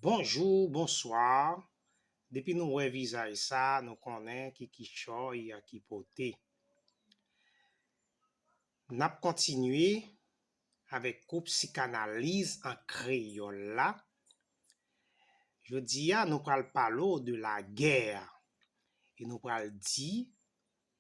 Bonjou bonswa depi nou wè vizaj sa nou konnen ki kichòy a ki pote nap kontinye avèk kou psikanaliz an kreyòl la jodi a nou pral pale w de lagè e nou pral di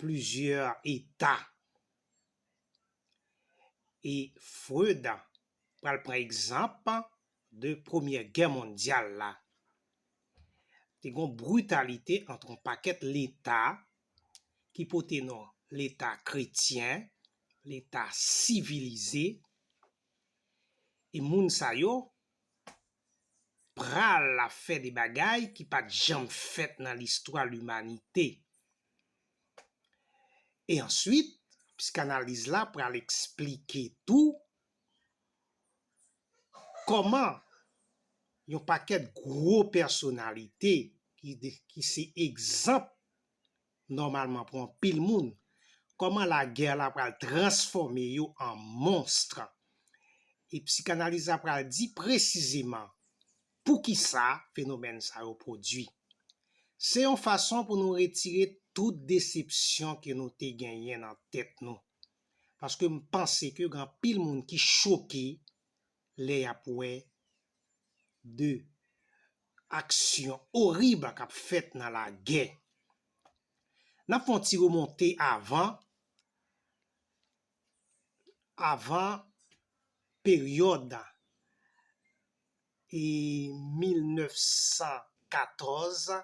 plizyè eta e Freud pral pran egzanp de premyè gè mondyal la te gon britalite ant yon pakèt leta ki pote non leta kretyen, leta sivilize e moun sa yo pral ap fè de bagay ki pat janm fèt nan listwa limanite. E answit, psikanaliz la pral esplike tou kòman yon pakèt gwo pèsonalite ki se egzanp nòmalman pou anpil moun, kòman lagè la pral transfòme yo an monstre. E psikanaliz la pral di presizeman poukisa fenomèn sa yo pwodui. Se yon fason pou nou retire tout desepsyon ke nou te genyen nan tèt nou. Paske m panse ke gen anpil moun ki choke lè y ap wè de aksyon orib k ap fèt nan lagè. N ap fè yon ti remonte avan avan peryòd 1914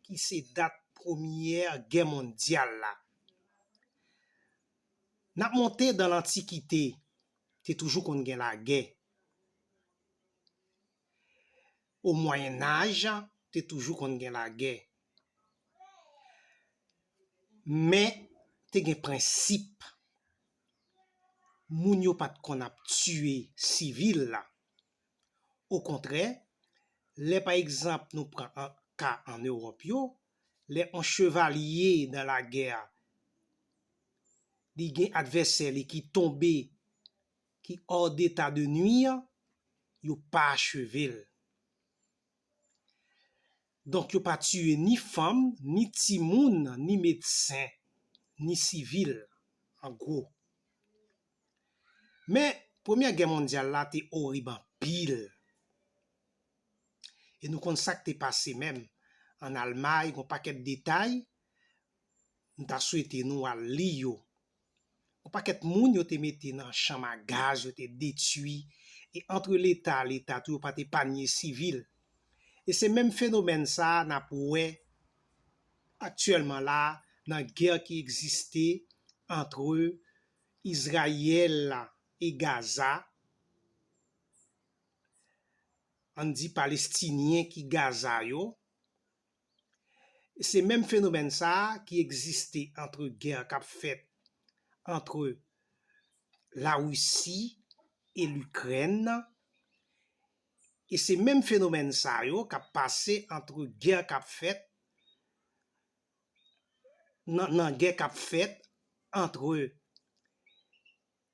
ki se dat premyè gè mondyal la. N ap monte dan lantikite, te toujou konn gen lagè. O Mwayennaj, te toujou konn gen lagè. Men, te gen prensip. Moun yo pa t konn ap tiye sivil la. Okontrè, lè pa egzanp nou pran ka ann Ewòp yo, lè on chevalye nan lagè, li gen advèsè li ki tonbe ki hors d'état de nuire an, yo pa acheve l. Donk yo pa tiye ni fanm, ni timoun, ni medsen, ni sivil, an gwo. Men, Premyè Gè Mondyal la te orib anpil. E nou konn sa k te pase menm ann Almay, gen yon pakèt detay, m ta swete nou al li yo Yon pakèt moun yo te mete nan chanm a gaz yo te detui e antre leta a leta tou yo pat epanye sivil. E se menm fenomèn sa a nap wè aktyèlman la a nan gè ki egziste antre Izrayèl e Gaza, ann di Palestinyen ki Gaza yo, Se menm fenomèn sa a ki egziste antre gè k ap fèt antre Larisi e Likrèn nan e se menm fenomèn sa yo k ap pase antre gè k ap fèt nan gè k ap fèt antre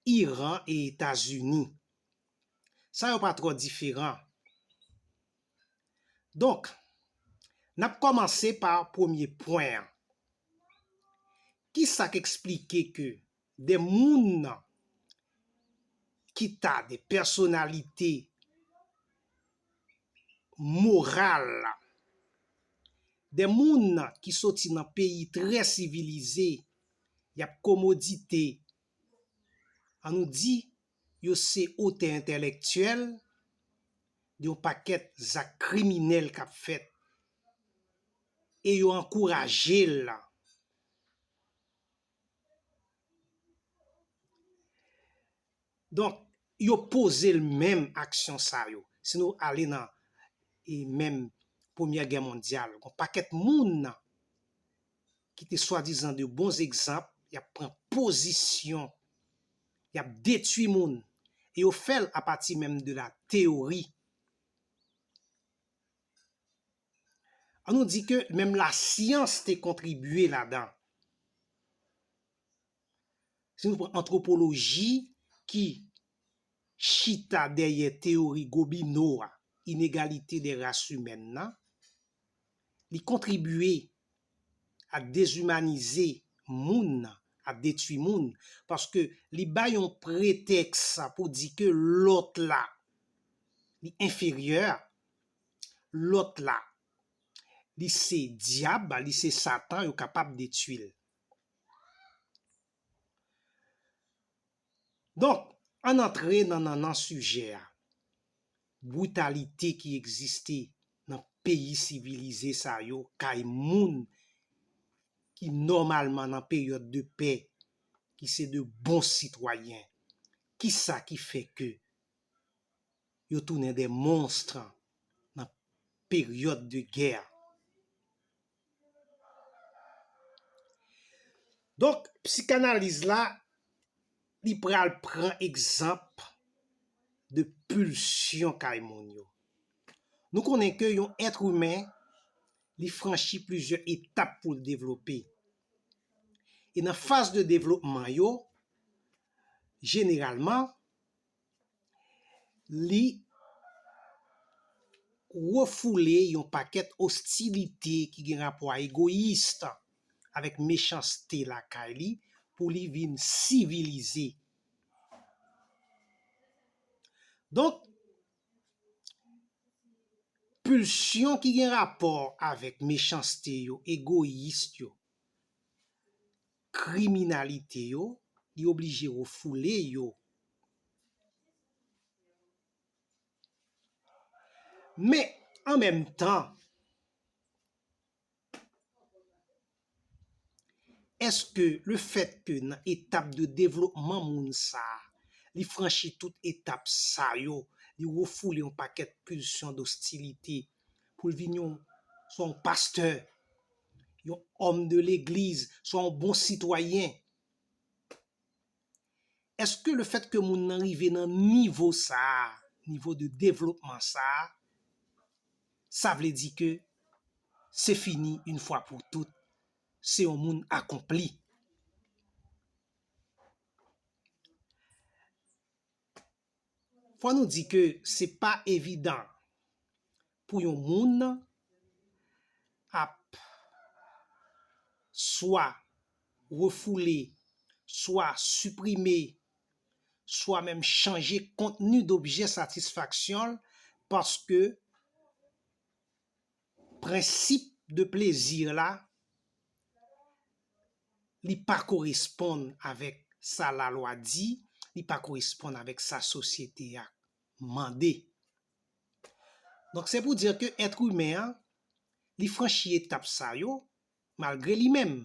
Iran e Etazini. Sa yo pa twò diferan. Donk, n ap kòmanse pa premye pwen an. Ki sa k esplike ke de moun ki ta de pèsonalite moral, de moun ki soti nan peyi trè sivilize, y ap komodite an nou di yo se otè entèlèktyèl de yon pakèt zak kriminèl k ap fèt e yo ankouraje l la. Donk, yo poze l menm aksyon sa yo. Si nou ale nan menm Premyè Gè Mondyal, gon pakèt moun ki te swadizan de bon egzanp, y ap pran pozisyon, y ap detui moun, e yo fè l apati menm de la teyori. An nou di ke menm lasyans te kontribye ladan. Si nou pran antwopoloji ki chita dèyè teyori Gobineau a, inegalite des races humaines nan, li kontribye a dezimanize moun nan, a detui moun, paske li bay yon pretèks pou di ke lòt la li enferyè, lòt la li se dyab, li se satan, yo kapab detui l. Donk, ann antre nan nannan sijè a, britalite ki egziste nan peyi sivilize sa yo kay moun ki nòmalman nan peryòd de pè, ki se de bon sitwayen. Kisa ki fè ke yo tounen de monstre nan peryòd de gè? Donk, psikanaliz la, li pral pran egzanp de pulsyon kay moun yo. Nou konnen ke yon etre humain, li franchi plizye etap pou l devlope. E nan faz de devlopman yo, jeneralman, li refoule yon pakèt ostilite ki gen rapò a egoyis, avèk mechanste lakay li pou li vin sivilize. Donk, pulsyon ki gen rapò avèk mechanste yo, egoyis yo, kriminalite yo, li oblije refoule yo. Men, an menm tan, èske le fèt ke nan etap de devlopman moun sa, li franchi tout etap sa yo, li refoule yon pakèt pulsyon dostilite, pou l vin yon swa yon pastè, yon òm de legliz, swa yon bon sitwayen. Eske le fèt ke moun nan rive nan nivo sa, nivo de devlopman sa, sa vle di ke se fini yon fwa pou tout, se yon moun akonpli? Fò nou di ke se pa evidan pou yon moun ap swa refoule, swa siprime, swa menm chanje kontni dobje satisfaksyon l paske Prensip de plezi la, li pa koresponn avèk sa lalwa di, li pa koresponn avèk sa sosyete a mande. Donk se pou dire ke èt imen an, li franchi etap sa yo, malgre li menm.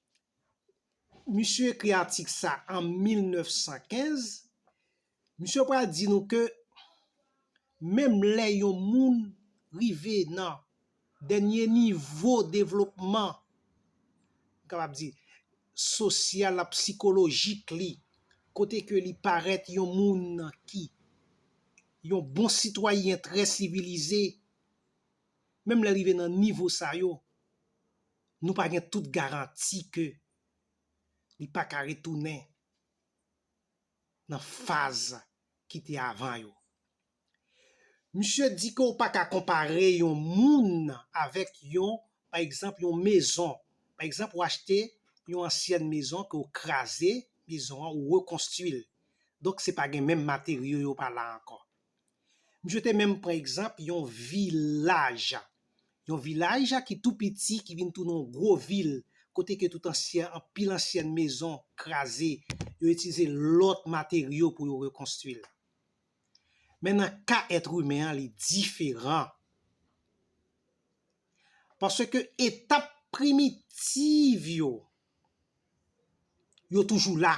Misye ekri atik sa an 1915, misye pral di nou ke menm lè yon moun rive nan dènye nivo devlopman, m kapab di, sosyal ak psikolojik li, kote ke li parèt yon moun ki yon bon sitwayen trè sivilize, menm lè l rive nan nivo sa yo, Nou pa gen tout garanti ke li pa ka retounen nan faz ki te avan yo. Misye di ke ou pa ka konpare yon moun avèk yon, pa egzanp, yon mezon. Pa egzanp, ou achte yon ansyèn mezon ke ou kraze mezon an, ou rekonstwi l. Donk se pa gen menm materyo yo pa la ankò. Misye te menm pran egzanp yon vilaj, yon vilaj ki tou piti ki vin tounen yon gwo vil kote ke tout ansyen, anpil ansyen mezon kraze, yo itilize lòt materyo pou yo rekonstwi l. Men nan ka èt imen an li diferan. Paske etap primitiv yo, yo toujou la.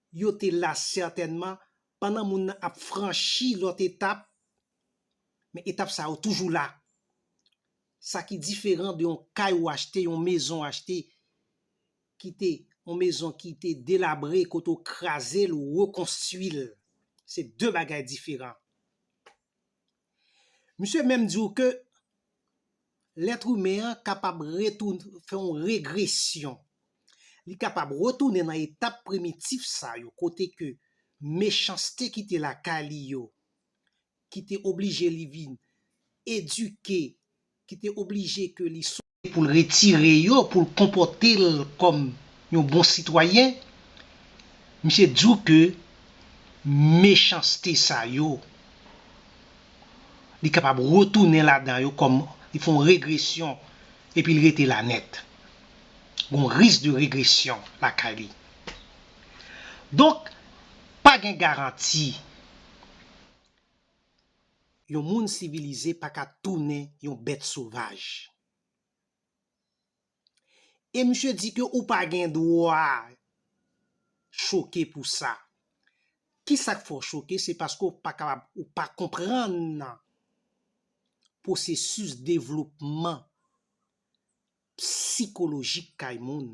Yo te la sètènman pandan moun nan ap franchi lòt etap, men etap sa yo toujou la. Sa ki diferan de yon kay ou achte, yon mezon ou achte, ki te yon mezon ki te delabre, kote ou kraze l, ou rekonstui l. Se de bagay diferan. Misye menm di w ke lèt imen an kapab fè yon regresyon, li kapab retounen nan etap primitif sa yo kote ke mechanste ki te lakay li yo ki te oblije li vin edike ki te oblije ke li sou. Pou l retire yo, pou l konpòte l kòm yon bon sitwayen, misye di w ke mechanste sa yo, li kapab retounen ladan yo kòm li fè yon regresyon epi li rete la nèt. Gon risk de regresyon lakay li. Donk, pa gen garanti. yon moun sivilize pa ka tounen yon bèt sovaj. E misye di ke ou pa gen dwa choke pou sa. Ki sa k fè w choke? Se paske ou pa kapab, ou pa konprann pwosesis devlopman psikolojik kay moun.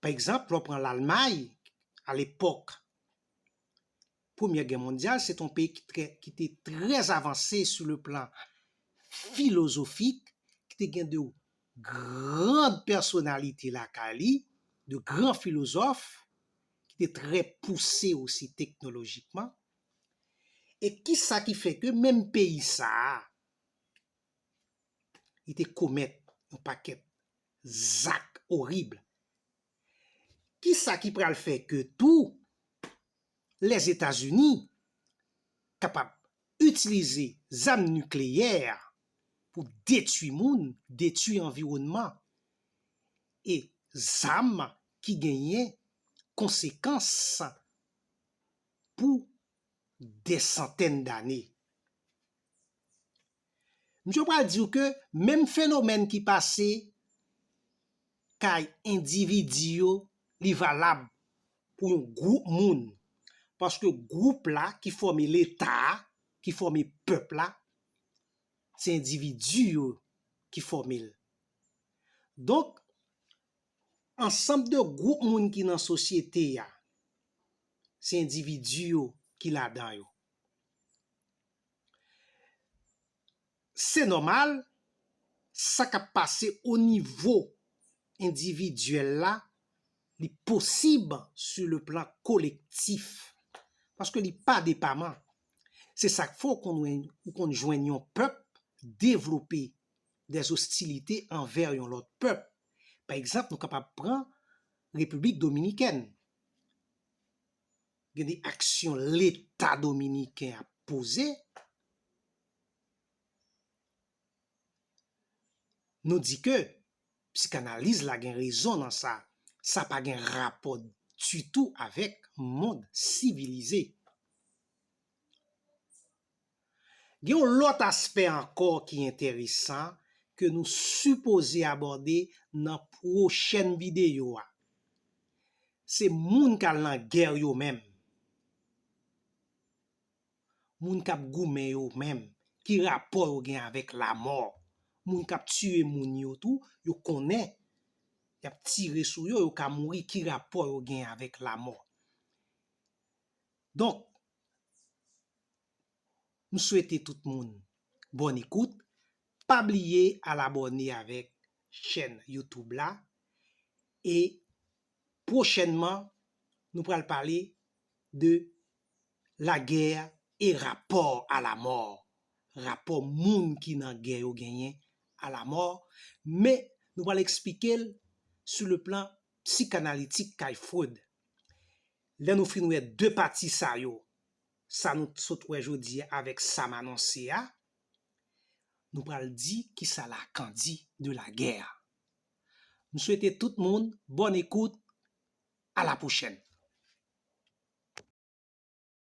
Pa egzanp, lè w pran Lalmay, alepòk Premyè Gè Mondyal, se te yon peyi ki te trè avanse sou le plan filozofik, ki te gen de gran pèsonalite lakay li, de gran filozòf, ki te trè pouse osi teknolojikman. E ki sa ki fè ke menm peyi sa a, li te komèt yon pakèt zak orib. Kisa ki pral fè ke tou Lèzetazini kapab itilize zam nikleyè pou detui moun, detui anviwònman e zam ki genyen konsekans pou dè santèn dane? Misye pral di w ke menm fenomèn ki pase kay endividi yo li valab pou yon gwoup moun. Paske gwoup la ki fòme leta a, ki fòme pèp la, se endividi yo ki fòme l. Donk, ansanm de gwoup moun ki nan sosyete a, se endividi yo ki ladan yo. Se nòmal, sa k ap pase onivo endividyèl la, li posib sou le plan kolektif. Paske li pa depaman. Se sa k fè w konn jwenn yon pèp devlope dè ostilite anvè yon lòt pèp. Pa egzanp, nou kapab pran Repiblik Dominikèn. Gen de aksyon leta dominiken ap poze, nou di ke psikanaliz la gen rezon nan sa, sa pa gen rapò ditou avèk mond sivilize. Gen yon lòt aspè ankò ki enteresan ke nou sipoze abòde nan pwochèn videyo a. Se moun k al nan gè yo menm. Moun k ap goumen yo menm. Ki rapò yo gen avèk lamò. Moun k ap tiye moun yo tou, yo konnen y ap tire sou yo, yo ka mouri. Ki rapò yo gen avèk lamò? Donk, m swete tout moun bòn ekout, pa bliye al abòne avèk chèn youtube la e pwochènman nou pral pale de la guerre et rapport à la mort, rapò moun ki nan gè yo genyen a la mort, men nou pral eksplike l sou le plan psikanalitik kay Freud. Lè nou fin wè 2 pati sa yo, sa nou t sot wè jodi a avèk sa m anonse a, nou pral di kisa Lacan di de la guerre. M swete tout moun bòn ekout, a la pwochèn.